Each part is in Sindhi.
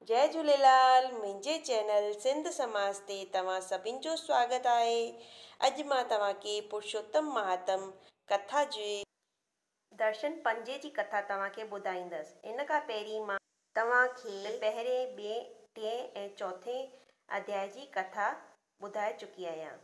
جئي جهوليلال منهنجي چينل سنڌ سماج تي توهان سڀن جو سواگت آهي اڄ مان توهان کي پرشوتم مهاتم ڪٿا جي. درشن پنجي جي ڪٿا توهان کي ٻڌائيندس ان کان پهرين مان. توهان کي پهرين ٻئي ٽئين ۽ چوٿين اڌياء جي ڪٿا ٻڌائي چڪي آهيان.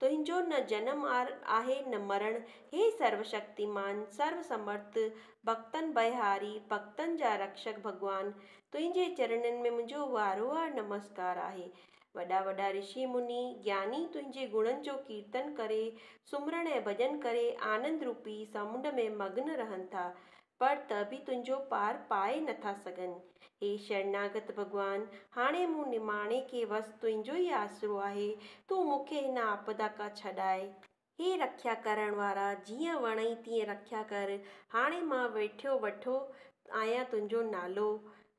تنهنجو نه جنم آهي نه مرڻ، هي سروشڪتيمان، سرو سمرٿ، ڀڳتن بئهاري، ڀڳتن جا رڪشڪ ڀڳوان، تنهنجي چرنن ۾ منهنجو وارهوار نمسڪار آهي. وڏا وڏا رشي مني، گياني تنهنجي گڻن جو ڪيرتن ڪري، سمرڻ ۽ ڀڄن ڪري آنند روپي سمنڊ ۾ مگن رهن ٿا. پر ته به تنهنجو پار پائي نٿا سگهن. هي شرناگت ڀڳوان! هاڻي مون نماڻي کي وس تنهنجو ئي آسرو آهي، تون مون کي هن آپدا کان ڇڏاء. هي رکيا ڪرڻ وارا! جيئن وڻئي تيئن رکيا ڪر. هاڻي مان ويٺيو وٺو آهيان تنهنجو نالو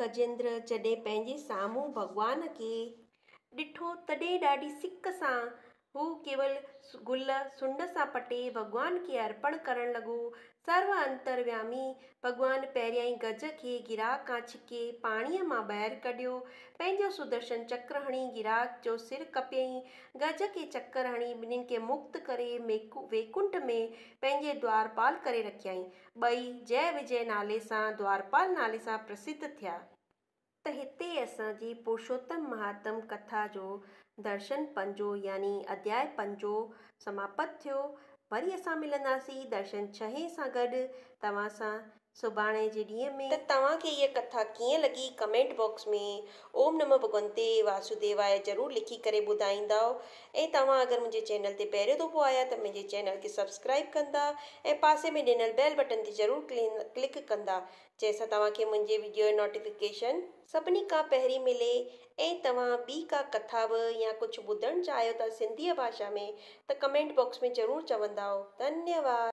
گجيندر جڏهن پنهنجي سامهون ڀڳوان کي ڏٺو تڏهن ڏاڍي سڪ سان هو ڪيول گل سنڍ سان پٽي ڀڳوان کي ارپڻ ڪرڻ لڳو. سرو انتريامي ڀڳوان پهريائين گج کي گراهه کان ڇڪي پاڻيء مان ٻاهر ڪڍيو. پنهنجو سدرشن چڪر هڻي گراهه جو سر ڪپيائين. گج کي چڪر هڻي ٻنهين کي مڪت ڪري ويڪنٺ ۾ پنهنجي دوارپال ڪري رکيائين. ٻئي جئه وجئه نالي سان دوارپال نالي سان پرسڌ ٿيا. ته هتي اسان جي پرشوتم مهاتم ڪٿا جو درشن پنجو يعني اڌياء پنجو سماپت ٿيو. وري اسان ملنداسين درشن ڇهين سان گڏ توهان سان سڀاڻي جي ڏينهن ۾. ته توهان کي هيء ڪٿا ڪيئن لڳي ڪمينٽ باڪس ۾ اوم نمه ڀڳونتي واسوديواء ضرور لکي ڪري ٻڌائيندؤ ۽ توهان اگر منهنجي چينل تي پهريون دفعو آيا ته منهنجي چينل کي سبسڪرائيب ڪندا ۽ پاسي ۾ ڏنل بيل بٽن تي ضرور ڪلڪ ڪندا جنهن سان توهان کي منهنجي ويڊيو جو نوٽيفڪيشن سڀني کان پهرين ملي ۽ توهان ٻي ڪا ڪٿا به يا ڪجهه ٻڌڻ چاهيو ٿا سنڌيء ڀاشا ۾ ته ڪمينٽ باڪس ۾ ضرور چوندا ڌنيواد.